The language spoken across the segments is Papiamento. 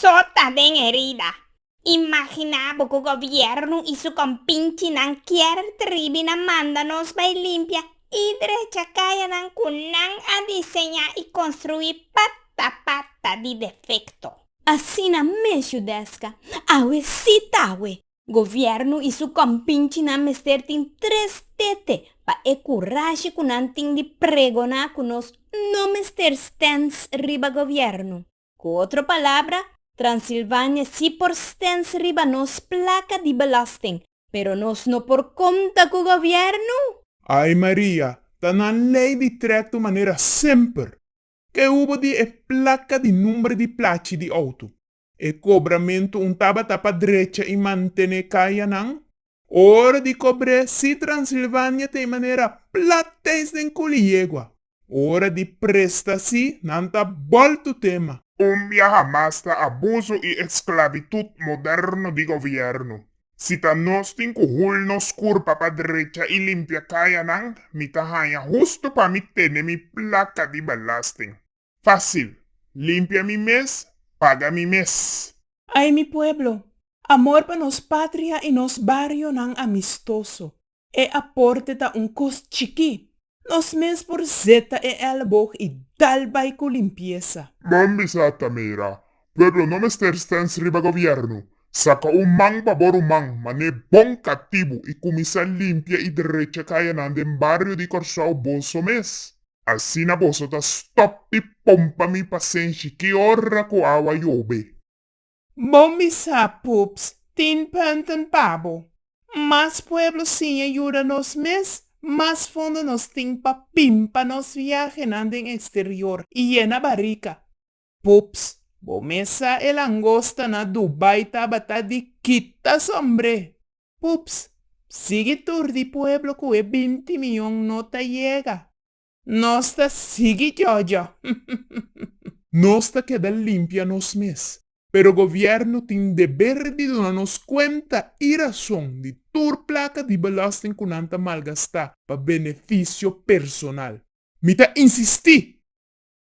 Sota den herida. Imaginá bo ku gobièrnu i su kompinchinan kier tribina manda nos bai limpia i drecha kayanan ku nan a diseñá i konstruí pata pata di defekto. Asina mes Judèska, awe sí ta awe, Govièrnu i su kòmpinchinan mester tin tres tete pa e kurashi ku nan tin di pregoná ku nos no mester stens riba govièrnu. Ku otro palabra, Transilvania sí por stens riba nos plaka di belòsting, pero nos no por konta ku govièrnu! Ai Maria, ta nan lei di trèktu manera semper! Ke hubo di e plaka di number di plachi di outo? E kobramentu un tabata pa drecha i mantené kayanan. Ora di kobr'é si Transilvania ta e manera plat tens den kuli yegua. Ora di presta si nan ta boltu tema. Kumbia hamas ta abuso i esklabitut moderno di gobièrnu. Si ta nos tin ku hul nos kurpa pa drecha i limpia kayanan, mi ta haña hustu pa mi tene mi plaka di belasting. Fácil, limpia mi mes, paga mi mes. Ay mi pueblo, amor pa nos patria y nos barionan amistoso, e aporte ta un cos chikí, nos mes por zeta e elboog y dal bay cu limpieza. Bon bisa ta mira, pueblo no mester stens riba gobierno, saca un man pa bo ruman, mané bon catibu y cuminsa limpia y drecha cayanan den bario di Corsou boso mes. Asina boso ta stòp di pompa mi pa senshi ki ora ku awa yobe. Bo misa pups tin pùnten pa bo. Mas pueblo siña yuda nos mes, mas fondo nos tin pa pimpa nos viahenan den eksterior i yena barika. Pups. Bo mes sa e langosta na Dubai tabata di kita sombre. Pups. Sigui tur di pueblo cu e binti miyon no ta yega. Nos ta sigui jojo. Nos ta keda limpia nos mes, pero gobierno tin deber di duna nos cuenta y razon di tur placa di belasting cu nan ta malgasta pa beneficio personal. Mi ta insisti!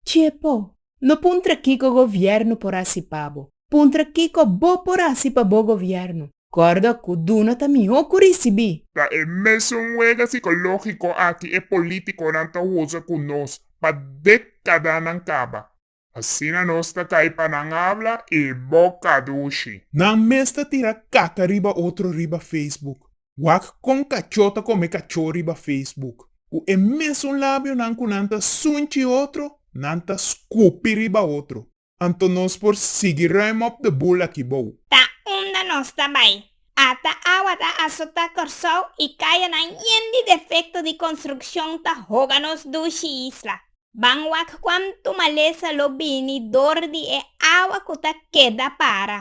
Txepo! No puntra kiko govièrnu por hasi pa bo. Puntra kiko bo por hasi pa bo govièrnu. Kòrda ku duna ta mihó ku risibí. Ta e mesun wega sikológiko aki e polítikonan ta usa ku nos pa dékadanan kaba. Asina nos ta kai pa nan habla i boka dushi. Nan mes ta tira kaka riba otro riba Facebook. Wak kon kachó ta kome kachó riba Facebook. Ku e mesun labionan ku nan ta sunchi otro, nan ta skupi riba otro. Anto nos por sigui ruim op de bul aki bou. Ta unda nos ta bai. Ata awa ta asota Kòrsou i kayanan yen di defekto di konstrukshon ta hoga nos dushi isla. Ban wak kuantu malesa lo bini dor di e awa ku ta keda para.